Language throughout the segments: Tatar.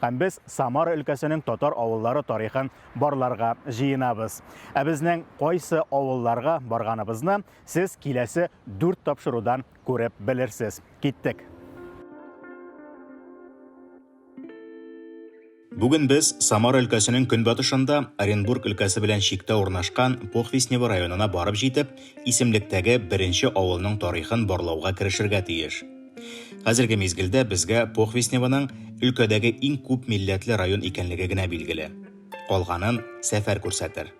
Һәм без Самара өлкәсенең татар авыллары тарихын барларга җыенабыз. Ә безнең кайсы авылларга барганыбызны сез киләсе дүрт тапшырудан күреп белерсез. Киттек! Бүген без Самара өлкәсенең көнбатышында Оренбург өлкәсе белән чиктә урнашкан Похвистнево районына барып җитеп, исемлектәге беренче авылның тарихын барлауга керешергә тиеш. Хәзерге мизгелдә безгә Похвистневоның өлкәдәге иң күп милләтле район икәнлеге генә билгеле. Калганын сәфәр күрсәтер.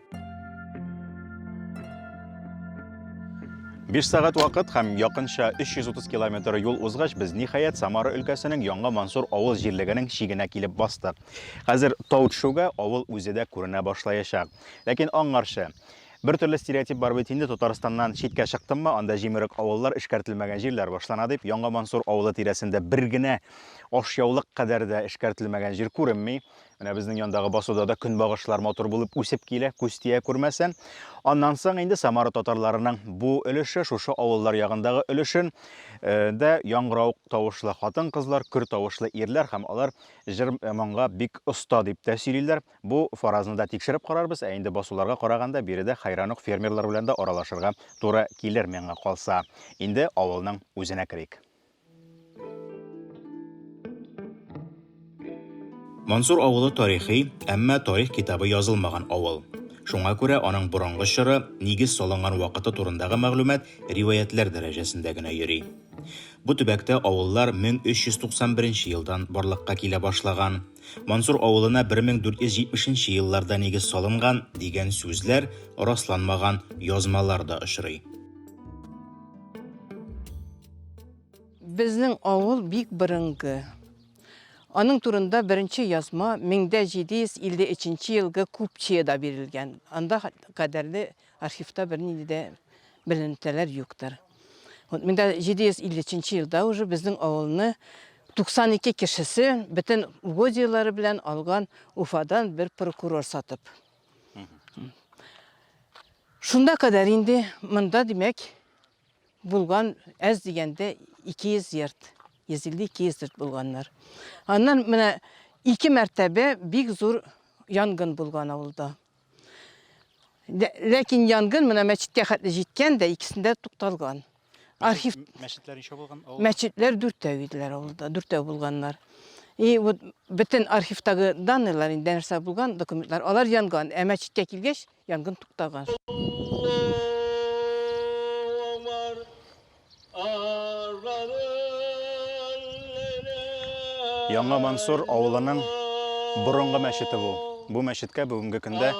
Биш сәгать вакыт һәм якынча 330 километр юл узгач, без ниһаять Самара өлкәсенең Яңа Мансур авыл җирлегенең чигенә килеп бастык. Хәзер тау төшүгә авыл үзе дә күренә башлаячак. Ләкин аңарчы. Бер төрле стереотип бар бит инде, Татарстаннан читкә чыктыммы, анда җимерек авыллар, эшкәртелмәгән җирләр башлана дип. Яңа Мансур авылы тирәсендә бер генә ашъяулык кадәр дә эшкәртелмәгән җир күренми. Менә безнең яндагы басуда да көнбагышлар матур булып үсеп килә, күз тия күрмәсен. Аннан соң инде Самара татарларының бу өлеше, шушы авыллар ягындагы өлешен э, дә яңгырау тавышлы хатын-кызлар, көр тавышлы ирләр һәм алар җыр-моңга бик оста дип тә сөйлиләр. Бу фаразны да тикшереп карарбыз, ә инде басуларга караганда, биредә хәйран ук фермерлар белән дә аралашырга туры килер, миңа калса. Инде авылның үзенә керик. Мансур авылы тарихи, әмма тарих китабы язылмаган авыл. Шуңа күрә аның борынгы чоры, нигез салынган вакыты турындагы мәгълүмат риваятьләр дәрәҗәсендә генә йөри. Бу төбәктә авыллар 1391 нче елдан барлыкка килә башлаган. Мансур авылына 1470 нче елларда нигез салынган дигән сүзләр, расланмаган язмалар да очрый. Безнең авыл бик борынгы. Аның турында беренче язма 1753 нче елгы Купчиеда бирелгән. Анда кадәрле архивта бернинди дә беленетәләр юктыр. Вот мен дә 753 елда уже безнең авылны 92 кешесе бөтен угодияләре белән алган Уфадан бер прокурор сатып. Шунда кадәр инде монда димәк булган әз дигәндә 200 йорт. 150-200 йорт булганнар. Аннан менә ике мәртәбә бик зур янгын булган авылда. Ләкин янгын менә мәчеткә хәтле җиткән дә, икесендә тукталган. Архив мәчетләр ничә булган? Мәчетләр дүртәү иделәр авылда, дүртәү булганнар. И вот бөтен архивтагы данныйлар инде нәрсә булган документлар, алар янган, ә мәчеткә килгәч янгын туктаган. Яңа Мансур авылының борынгы мәчете бу. Бу мәчеткә бүгенге көндә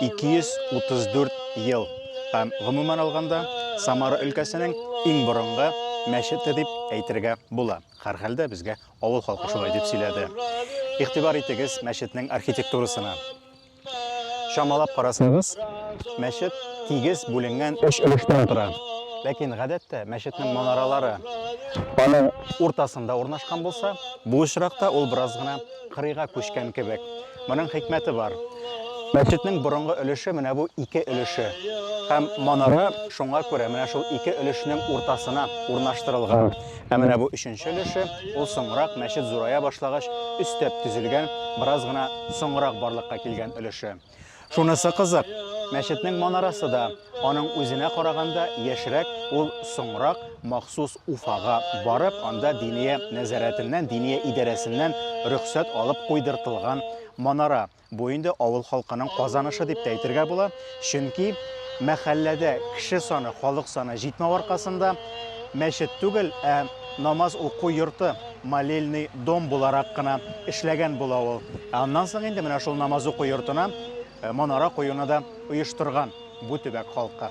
234 ел. Һәм гомумән алганда, Самара өлкәсенең иң борынгы мәчете дип әйтергә була. Һәрхәлдә безгә авыл халкы шулай дип сөйләде. Игътибар итегез мәчетнең архитектурасына. Чамалап карасагыз, мәчет тигез бүленгән өч өлештән тора. Ләкин гадәттә мәчетнең манаралары аның уртасында урнашкан булса, бу очракта ул бераз гына кырыйга күчкән кебек. Моның хикмәте бар. Мәчетнең борынгы өлеше менә бу ике өлеше. Һәм манара шуңа күрә менә шул ике өлешнең уртасына урнаштырылган. Ә менә бу өченче өлеше, ул соңрак мәчет зурая башлагач өстәп төзелгән, бераз гына соңрак барлыкка килгән өлеше. Шунысы кызык, мәчетнең манарасы да аның үзенә караганда яшьрәк, ул соңрак махсус Уфага барып, анда диния нәзарәтеннән, диния идарәсеннән рөхсәт алып куйдыртылган манара. Бу инде авыл халкының казанышы дип тә әйтергә була, чөнки мәхәлләдә кеше саны, халык саны җитмәү аркасында мәчет түгел, ә намаз уку йорты, молельный дом буларак кына эшләгән була ул. Ә аннан соң инде менә шул намаз уку йортына манара куюны да оештырган бу төбәк халкы.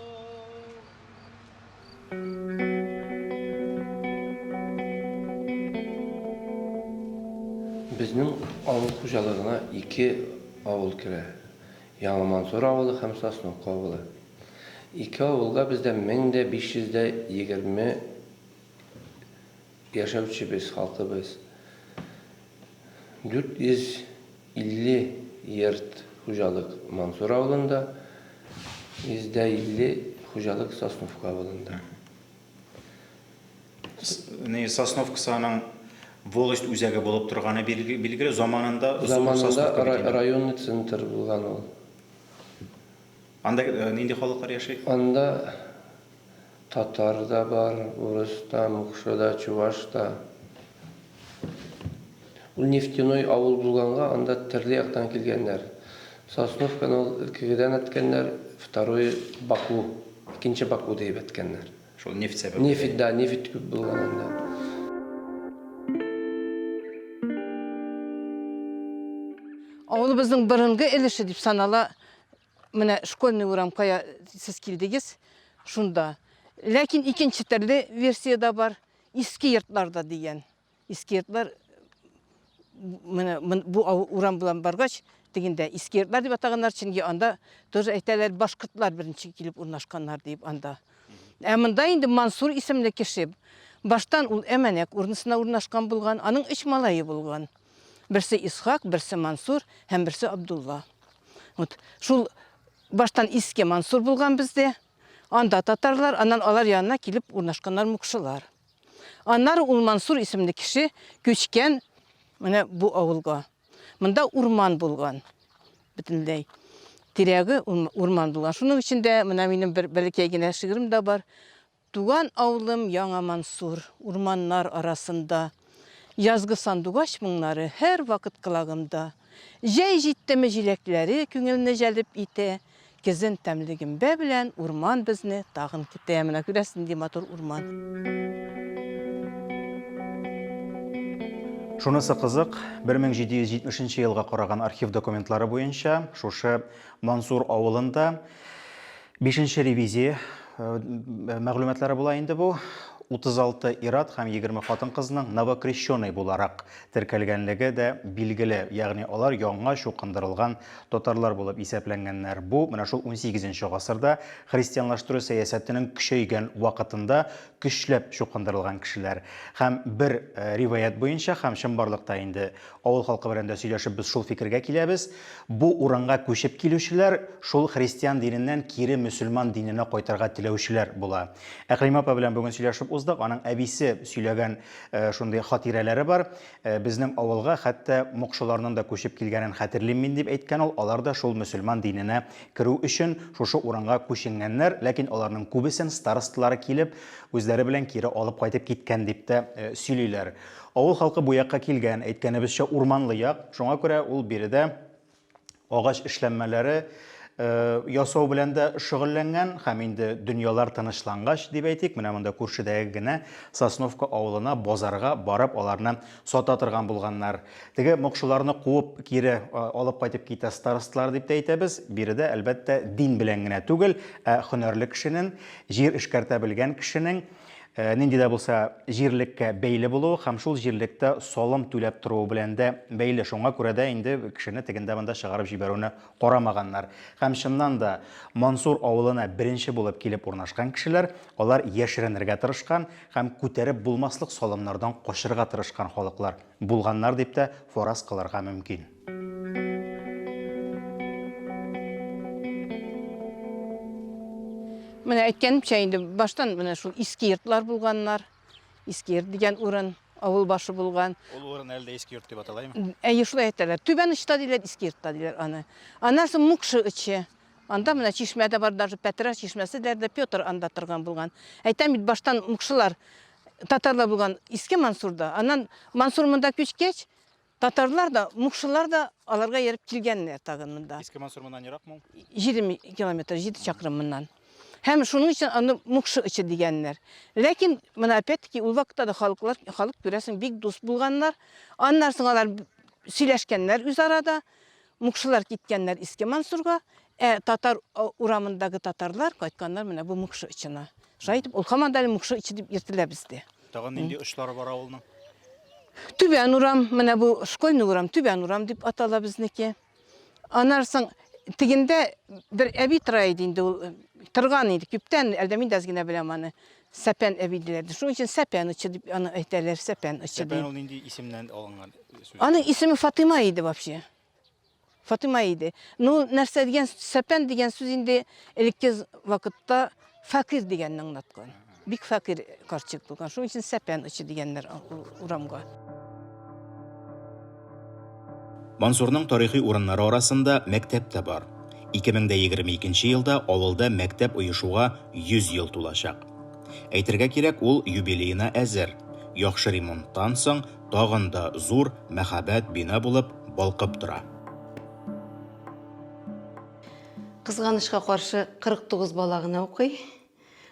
Безнең авыл хуҗалыгына ике авыл керә, Яңа Мансур авылы һәм Сосновка авылы. Ике авылга бездә мең дә биш йөз дә егерме Яшәүчебез, халкыбыз 450 йорт хуҗалык Мансур авылында, 150 хуҗалык Сосновка авылында. Сосновка саның волость үзәге булып торганы билгеле, заманында Заманында районный центр булган ул. Анда нинди халыклар яши? Анда Татар да бар, урыс та, мукшы да, чуваш та. Ул нефтяной авыл булганга, анда терле яктан килгәннәр. Сосновканы ул Элкегедән әткәннәр, второе Баку, икенче Баку диеп әткәннәр. Шул нефть сәбәпле. Нефть, да, нефть күп булган анда. Авылыбызның борынгы өлеше дип санала Менә школьный урам кая сез килдегез, шунда. Ләкин икенче төрле версия дә бар, иске йортларда дигән. Иске йортлар менә бу урам белән баргач, тегендә иске йортлар дип атаганнар, чөнки анда тоже әйтәләр, башкортлар беренче килеп урнашканнар дип анда. Ә монда инде Мансур исемле кеше. Баштан ул Әмәнәк урнысына урнашкан булган, аның өч малае булган. Берсе Исхак, берсе Мансур һәм берсе Абдулла. Вот шул баштан иске Мансур булган бездә. Анда татарлар, аннан алар янына килеп урнашканнар мукшылар. Аннары ул Мансур исемле кеше күчкән менә бу авылга. Монда урман булган. Бөтенләй тирәге урман булган. Шуның өчен дә менә минем бер бәләкәй генә шигырем да бар. Туган авылым Яңа Мансур, Урманнар арасында. Язгы сандугач моңнары Һәрвакыт колагымда. Җәй җиттеме җиләкләре Күңелне җәлеп итә. Көзен тәмле гөмбә белән Урман безне тагын көтә. Менә күрәсез, нинди матур урман. Шунысы кызык, 1770 нче елга караган архив документлары буенча, шушы Мансур авылында Бишенче ревизия мәгълүматлары була инде бу. 36 ир-ат һәм 20 хатын-кызның новокрещеный буларак теркәлгәнлеге дә билгеле. Ягъни алар яңа чукындырылган татарлар булып исәпләнгәннәр. Бу менә шул 18 нче гасырда христианлаштыру сәясәтенең көчәйгән вакытында көчләп чукындырылган кешеләр. Һәм бер риваять буенча һәм чынбарлыкта инде Авыл халкы белән дә сөйләшеп без шул фикергә киләбез, бу урынга күчеп килүчеләр шул христиан диненнән кире мөселман диненә кайтырга теләүчеләр була. Әкълимә апа белән бүген сөйләшеп уздык, аның әбисе сөйләгән шундый хатирәләре бар. Безнең авылга хәтта мокшыларның да күчеп килгәнен хәтерлим мин, дип әйткән ул. Алар да шул мөселман диненә керү өчен шушы урынга күченгәннәр, ләкин аларның күбесен старосталары килеп, үзләре белән кире алып кайтып киткән дип тә сөйлиләр. Авыл халкы бу якка килгән, әйткәнебезчә, урманлы як, шуңа күрә ул биредә агач эшләнмәләре ясау белән дә шөгыльләнгән һәм инде дөньялар тынычлангач, дип әйтик, менә монда күршедәге генә Сосновка авылына базарга барып аларны сата торган булганнар. Теге мокшыларны куып кире алып кайтып китә старосталар дип тә әйтәбез. Биредә, әлбәттә, дин белән генә түгел, ә һөнәрле кешенең, җир эшкәртә белгән кешенең, нинди дә булса җирлеккә бәйле булуы һәм шул җирлектә салым түләп торуы белән дә бәйле. Шуңа күрә дә инде кешене тегендә-монда чыгарып җибәрүне карамаганнар. Һәм чыннан да, Мансур авылына беренче булып килеп урнашкан кешеләр, алар яшеренергә тырышкан һәм күтәреп булмаслык салымнардан качырга тырышкан халыклар булганнар дип тә фараз кылырга мөмкин. Менә әйткәнемчә инде баштан менә шул иске йортлар булганнар. Иске йорт дигән урын авыл башы булган. Ул урын әле дә иске йорт дип аталаймы? Әйе, шулай әйтәләр. Түбән очта диләр, иске йортта диләр аны. Аннан соң Мукшы очы. Анда менә чишмә дә бар, даже Пәтрәр чишмәсе диләр дә Петр анда торган булган. Әйтәм бит, баштан мукшылар татарлар булган Иске Мансурда. Аннан Мансур монда күчкәч, Татарлар да, мукшылар да аларга ерып килгәннәр тагын монда. Иске Мансур моннан еракмы ул? 20 километр, 7 чакрым моннан. Һәм шуның өчен аны мукшы ычы дигәннәр. Ләкин менә опять-таки ул вакытта да халыклар, халык күрәсең, бик дус булганнар. Аннан соң алар сөйләшкәннәр үзара да. Мукшылар киткәннәр Иске Мансурга, ә татар урамындагы татарлар кайтканнар менә бу мукшы ычына. Шулай итеп, ул һаман да әле мукшы ичи дип йөртелә бездә. Тагын нинди очлары бар авылның? Түбән урам, менә бу школьный урам, түбән урам дип атала безнеке. Аннан соң тегендә бер әби тора иде инде ул э, торган иде күптән, әлдә мин дә аз генә беләм аны. Сәпән әби диләр. Шуның өчен сәпән очы дип аны әйтәләр, сәпән очы Сәпән дип. ул нинди исемнән алынган сүз? Аның исеме Фатыйма иде вообще. Фатыйма иде. Ну, нәрсә дигән, сәпән дигән сүз инде элекке вакытта фәкыйрь дигәнне аңлаткан. Бик фәкыйрь карчык булган. Шуның өчен сәпән очы дигәннәр урамга. Мансурның тарихи урыннары арасында мәктәп тә бар. 2022 елда авылда мәктәп оешуга 100 ел тулачак. Әйтергә кирәк, ул юбилеена әзер. Яхшы ремонттан соң тагын да зур мәһабәт бина булып балкып тора. Кызганычка каршы, 49 бала гына укый.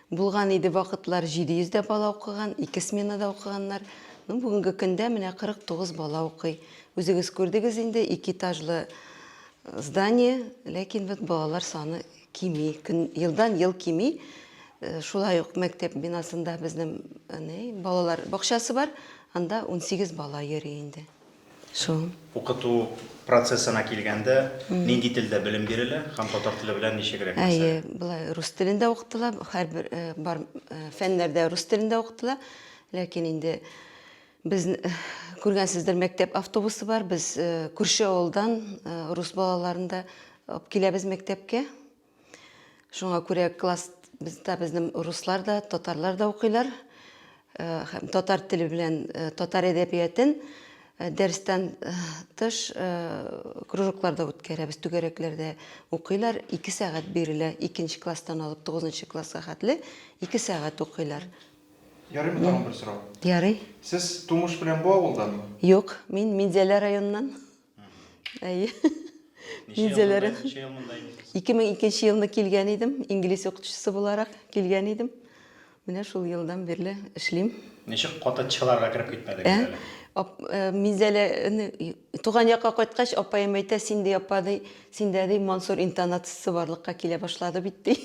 Булган иде вакытлар 700 дә бала укыган, ике сменада укыганнар. Ну, бүгенге көндә менә 49 бала укый. Үзегез күрдегез инде, ике этажлы здание, ләкин вот балалар саны Кими, көн, елдан ел кими. Э, шулай ук мәктәп бинасында безнең әне, балалар бакчасы бар, анда 18 бала йөри инде. Шул. Укыту процессына килгәндә, нинди телдә белем бирелә һәм татар теле белән ничегрәк мәсәлә? Әйе, былай рус телендә укытыла, һәрбер э, бар э, фәннәрдә рус телендә укытыла, ләкин инде Без күргәнсездер, мәктәп автобусы бар. Без күрше авылдан рус балаларын да алып киләбез мәктәпкә. Шуңа күрә класс бездә безнең руслар да, татарлар да укыйлар. Һәм татар теле белән татар әдәбиятен дәрестән тыш кружокларда үткәрәбез, түгәрәкләрдә укыйлар. 2 сәгать бирелә, икенче класстан алып 9 класска хәтле 2 сәгать укыйлар. Ярыймы тагын бер сорау? Ярый. Сез тумыш белән бу авылданмы? Юк, мин Минзәлә районыннан. Әйе. Минзәлә районы. Ничә ел монда инде? 2002 елны килгән идем, инглиз укытучысы буларак килгән идем. Менә шул елдан бирле эшлим. Ничек каты чыларга кереп китмәдегез әле? Минзәлә туган якка кайткач, апаем әйтә, син ди апа ди, синдә ди Мансур интонациясе барлыкка килә башлады бит ди.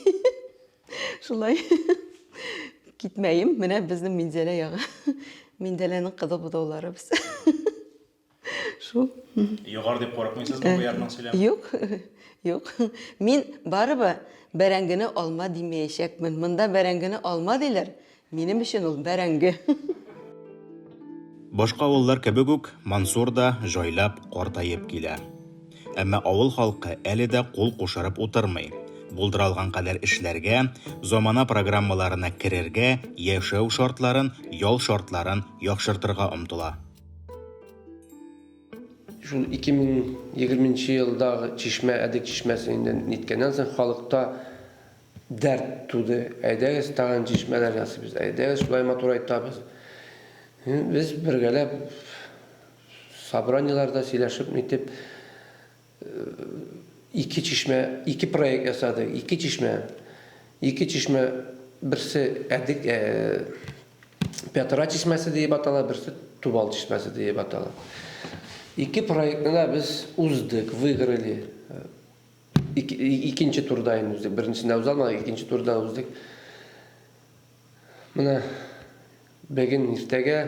Шулай. Китмәем, менә безнең Минзәлә ягы. Минзәләнең кызыл бозаулары без. Шул. Егар дип курыкмыйсызмы бу ярның сөйләме? Юк, юк. Мин барыбы бәрәңгене алма димәячәкмен. Монда бәрәңгене алма диләр, Минем өчен ул бәрәңге. Башка авыллар кебек үк, Мансур да җайлап, картаеп килә. Әмма авыл халкы әле дә кул кушырып утырмый. Булдыралган кадәр эшләргә, замана программаларына керергә, яшәү шартларын, ял шартларын яхшыртырга омтыла. Шул 2020 нче елдагы чишмә, Әдек чишмәсе инде ниткәннән соң, халыкта Дәрт туды, әйдәгез тагын чишмәләр ясыйбыз, әйдәгез шулай матурайтабыз. Без бергәләп собраниеләрдә сөйләшеп нитеп ике чишмә, ике проект ясадык, ике чишмә. Ике чишмә берсе әдик э, Петра чишмәсе диеп атала, берсе Тубал чишмәсе диеп атала. Ике проектны да без уздык, выиграли. Икенче турда инде үздек. Беренчесендә уза алмадык, икенче турда уздык. Менә бәген иртәгә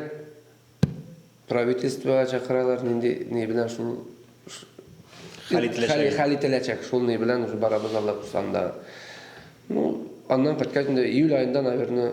правительствоға чакыралар, нинди не белән шул хәл ителәчәк. Хәл ителәчәк, шул не белән уже барабыз алла кушканда. Ну, аннан кайткач инде июль аенда, наверное,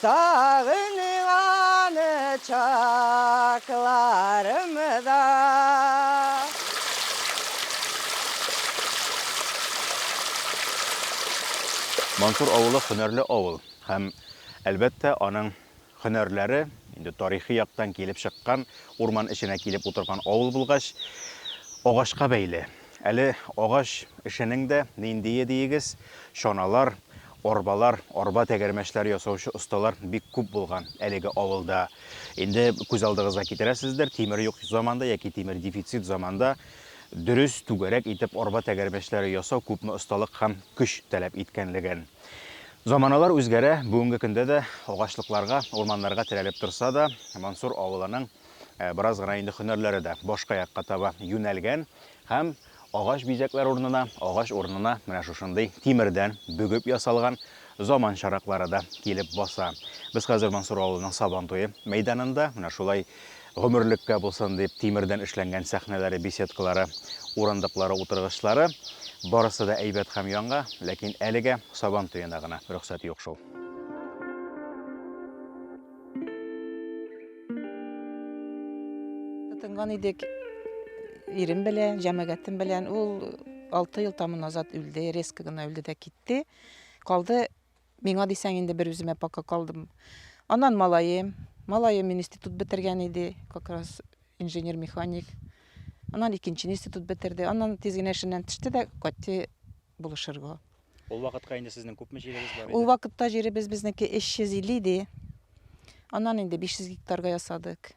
Сагыйм аны чакларымда. Мансур авылы хөнәрле авыл һәм, әлбәттә, аның хөнәрләре инде тарихи яктан килеп чыккан, урман эченә килеп утырган авыл булгач, агачка бәйле. Әле агач эшенең дә ниндие диегез, чаналар, Арбалар, арба тәгәрмәчләре ясаучы осталар бик күп булган әлеге авылда. Инде күз алдыгызга китерәсездер, тимер юк заманда яки тимер дефицит заманда дөрес, түгәрәк итеп арба тәгәрмәчләре ясау күпме осталык һәм көч таләп иткәнлеген. Заманалар үзгәрә, бүгенге көндә дә агачлыкларга, урманнарга терәлеп торса да, Мансур авылының э, бераз гына инде һөнәрләре дә башка якка таба юнәлгән һәм Агач бизәкләр урынына, агач урынына менә шушындый тимердән бөгеп ясалган заман чараклары да килеп баса. Без хәзер Мансур авылының Сабантуе мәйданында, менә шулай гомерлеккә булсын дип тимердән эшләнгән сәхнәләре, беседкалары, урындыклары, утыргычлары, барысы да әйбәт һәм яңа, ләкин әлегә Сабантуена гына рөхсәт юк шул. Тынган идек ирем белән, җәмәгатем белән. Ул 6 ел тамы назад үлде, резко гына үлде дә китте. Калды миңа дисәң инде бер үземә пока калдым. Аннан малаем, малаем институт бетергән иде, как раз инженер-механик. Аннан икенче институт бетерде. Аннан тиз генә эшеннән төште дә кайтты булышырга. Ул вакытка инде сезнең күпме җирегез бар иде? Ул вакытта җиребез безнеке 350 иде. Аннан инде 500 гектарга ясадык.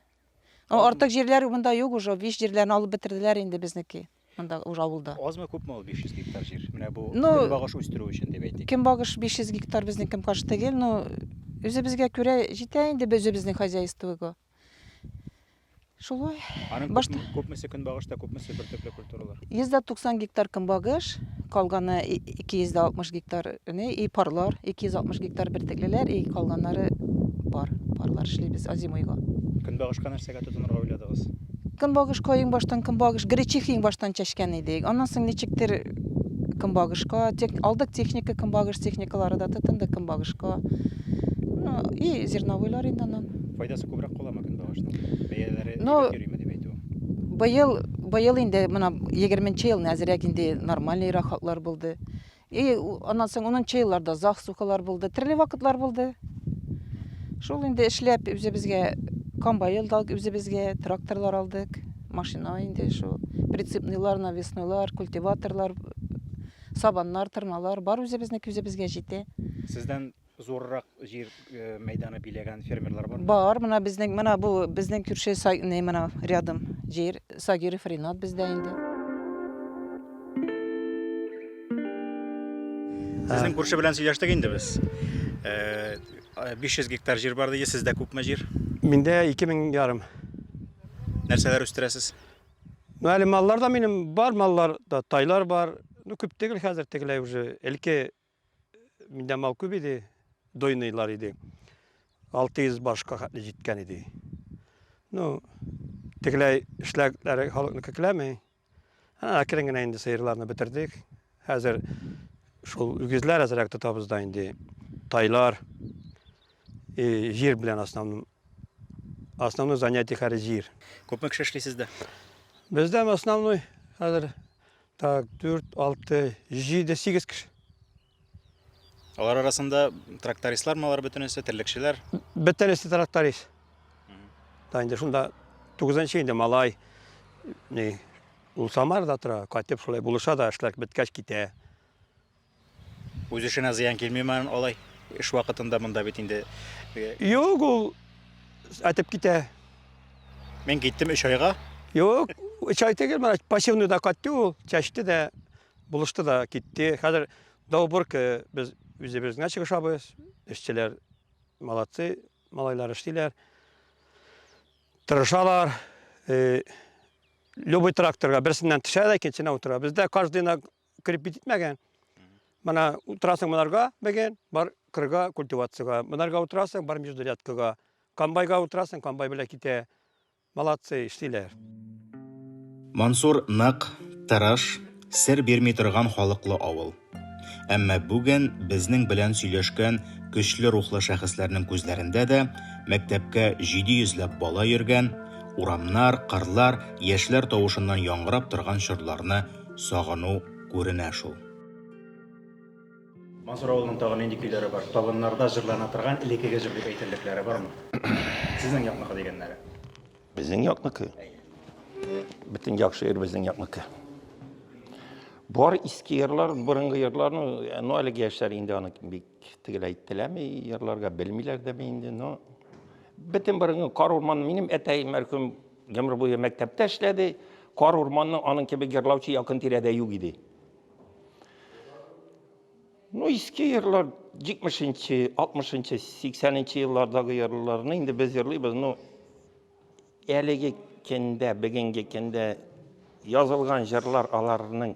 Ул артык җирләр монда юк уже, биш җирләрне алып бетерделәр инде безнеке. Монда уже авылда. Азмы күпме ул 500 гектар җир? Менә бу ну, көнбагыш үстерү өчен дип әйтик. Көнбагыш 500 гектар безнең кем каршы түгел, но үзебезгә күрә җитә инде безнең хозяйствога. Шулай. Аның Башта... күпме, күпмесе көнбагышта, күпмесе бер төпле культуралар? 190 гектар көнбагыш, калганы 260 гектар не, и парлар, 260 гектар бер теклеләр, и калганнары пар. Парлар эшлибез озимойга. Көнбагышка нәрсәгә тотынырга уйладыгыз? Көнбагышка иң баштан көнбагыш, гречиха иң баштан чәчкән идек. Аннан соң ничектер көнбагышка, тек, алдык техника, көнбагыш техникалары да тотынды көнбагышка. Ну, и зерновойлар инде аннан. Файдасы күбрәк каламы көнбагышның? Бәяләре Но... Ну, йөрими дип әйтү. Быел, быел инде менә 20 ел әзрәк инде нормальный рахатлар булды. И аннан соң 10 елларда зах сухалар булды, төрле вакытлар булды. Шул инде эшләп үзебезгә комбайн да үзебезгә тракторлар алдык, машина инде шул, прицепныйлар, навеснойлар, культиваторлар, сабаннар, тырмалар бар үзебезнеке үзебезгә җитә. Сездән зуррак җир э, мәйданы биләгән фермерлар бар? Бар, менә безнең, менә бу безнең күрше Сай- не, менә рядом җир Сагиров Ринат бездә инде. Сезнең күрше белән сөйләштек инде без. Э, 500 гектар җир бар ди, сездә күпме җир? Миндә 2000 ярым. Нәрсәләр үстерәсез? Ну, әле маллар да минем бар, маллар да, тайлар бар. Ну, күп түгел хәзер тегеләй уже. Элке Миндә мал күп иде, дойныйлар иде. 600 башка хәтле җиткән иде. Ну, тегеләй эшләгәннәре халыкны кекләми. Әкрен генә инде сыерларны бетердек. Хәзер шул үгезләр әзрәк тотабыз да инде. Тайлар, и җир белән основном основной занятие хәзер җир. Күпме кеше эшли сездә? Бездә основной хәзер Так, дүрт, алты, җиде, сигез кеше. Алар арасында трактористлар малар бөтенесе, терлекчеләр? Бөтенесе тракторист. Та инде шунда тугызынчы инде малай, не, ул Самарда тора, кайтып шулай булыша да, эшләр беткәч китә. Үз эшенә зыян килмиме алай? Эш вакытында монда бит инде. Юк, ул әтеп китә. Мин киттем өч айга. Юк, өч ай түгел, менә пассивный да кайтты ул, чәчте дә, булышты да китте. Хәзер Долбурка без үзебез генә чыгышабыз. Эшчеләр молодцы, малайлар эшлиләр. Тырышалар. Э, любой тракторга берсеннән төшә дә икенчесенә утыра. Бездә каждыйна кирип битмәгән. Мына утырасың монарга беген, бар кырга культивацияга. Монарга утырасың, бар междурядкага. Комбайга утырасың, комбай белән китә. Молодцы, эшлиләр. Мансур нык, тырыш, сер бирми торган халыклы авыл. Әмма бүген безнең белән сөйләшкән көчле рухлы шәхесләрнең күзләрендә дә мәктәпкә 700 ләп бала йөргән, урамнар, кырлар яшьләр тавышыннан яңгырап торган чорларны сагыну күренә шул. Мансур авылының тагын нинди көйләре бар? Табыннарда җырлана торган элекеге җыр дип әйтерлекләре бармы? Сезнең якныкы дигәннәре. Безнең якныкы. Бөтен яхшы ир безнең якныкы. Бар иске йырлар, борынгы йырларны, ну әлеге яшьләр инде аны бик тегеләй теләми, йырларга белмиләр дә инде, но бөтен борынгы кар урман минем әтәй мәрхүм Гомер буе мәктәптә эшләде. Кар урманны аның кебек йырлаучы якын тирәдә юк иде. Ну, иске йырлар, 70-нче, 60-нчы, 80-нче еллардагы йырларны инде без йырлыйбыз. Ну, әлеге кендә, бүгенге кендә язылган җырлар аларның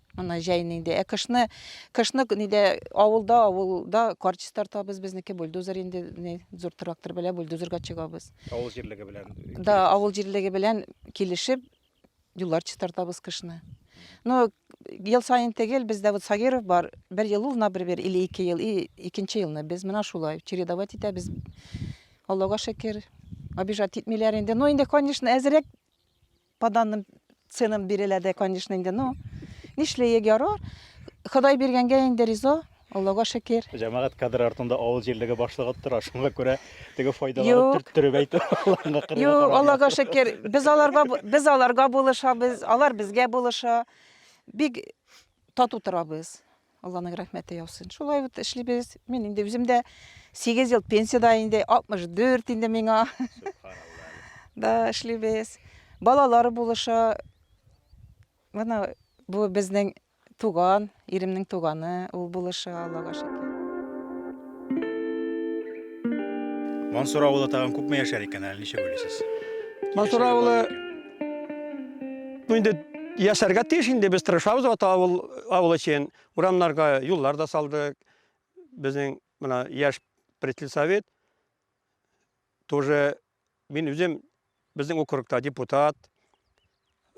Ана җәй инде. Ә кышны, кышны нидә авылда, авылда карчис тартабыз, безнеке бульдозер инде, не, зур трактор белән бульдозерга чыгабыз. Авыл җирлеге белән. Да, авыл җирлеге белән килешеп юллар чистартабыз кышны. Но ел саен тегел бездә вот Сагиров бар, бер ел ул, например, или ике ел, и икенче елны без менә шулай чередовать итәбез. Аллага шөкер, обижать итмиләр инде. Но инде, конечно, әзрәк По данным ценам бирелә дә, конечно, инде, но нишләек, ярар. Ходай биргәнгә инде риза, Аллага шөкер. Җәмәгать кадры артында авыл җирлеге башлыгы тора, шуңа күрә теге файдаларын төрттереп әйтү аларга кырыла. Юк, Аллага шөкер, без аларга без аларга булышабыз, алар безгә булыша. Бик тату торабыз. Алланың рәхмәте яусын. Шулай вот эшлибез. Мин инде үзем дә 8 ел пенсияда инде, 64 инде миңа. Да, эшлибез. Балалар булыша. Менә бу безнең туган, иремнең туганы, ул булыша, Аллага шөкер. Мансур авылы тагын күпме яшәр икән әле, ничек уйлыйсыз? Мансур авылы Ну инде яшәргә тиеш инде без тырышабыз вот авыл авыл өчен. Урамнарга юллар да салдык. Безнең менә яшь председатель совет тоже мин үзем безнең округта депутат.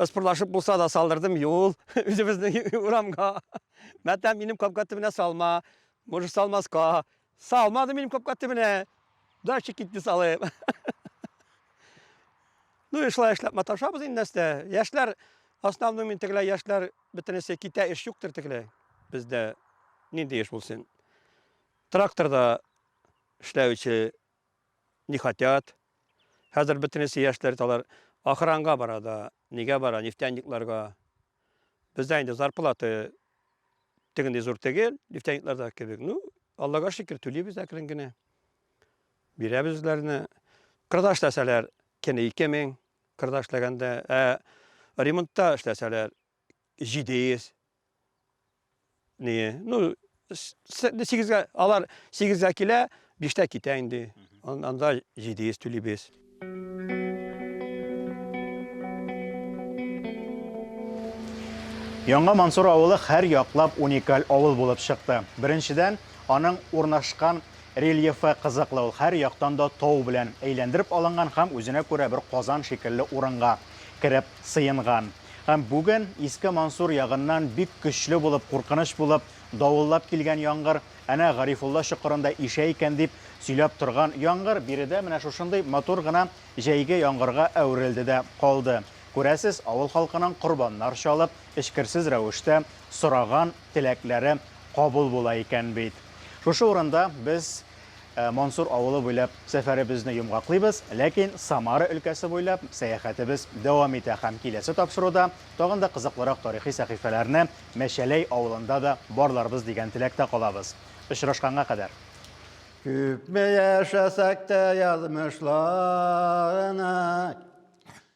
Ыспырлашып булса да салдырдым юл үзебезнең урамга. Мәтәм минем капка төбенә салма, может салмаска. Салмады минем капка төбенә. Дача китте салып. Ну и шулай эшләп маташабыз инде нәрсә. Яшьләр основном мин тегеләй яшьләр бөтенесе китә эш юктыр тегеләй. Бездә нинди эш булсын? Тракторда эшләүче не хотят. Хәзер бөтенесе яшьләр талар охранга бара да, нигә бара, нефтяникларга. Бездә инде зарплата тегендәй зур түгел, нефтяникларда кебек. Ну, Аллага шөкер, түлибез әкрен генә. Бирәбез үзләренә. Кырда эшләсәләр, кене 2000, кырда эшләгәндә, ә ремонтта эшләсәләр 700. Ну, сигезгә, алар сигезгә килә, биштә китә инде. Анда җидиес түлибез. Яңа Мансур авылы һәр яклап уникаль авыл булып чыкты. Беренчедән, аның урнашкан рельефы кызыклы, ул һәр яктан да тау белән әйләндереп алынган һәм үзенә күрә бер Казан шикелле урынга кереп сыенган һәм бүген Иске Мансур ягыннан бик көчле булып, куркыныч булып давыллап килгән яңгыр, әнә Гарифулла чокырында ишә икән дип сөйләп торган яңгыр биредә менә шушындый матур гына җәйге яңгырга әверелде дә калды. Күрәсез, авыл халкының корбаннар чалып, эчкерсез рәвештә сораган теләкләре кабул була икән бит. Шушы урында без Ә Мансур авылы буйлап сәфәребезне йомгаклыйбыз, ләкин Самара өлкәсе буйлап сәяхәтебез дәвам итә һәм киләсе тапшыруда тагын да кызыклырак тарихи сәхифәләрне Мәчәләй авылында да барларбыз дигән теләктә калабыз. Очрашканга кадәр! Күпме яшәсәк тә язмышларына.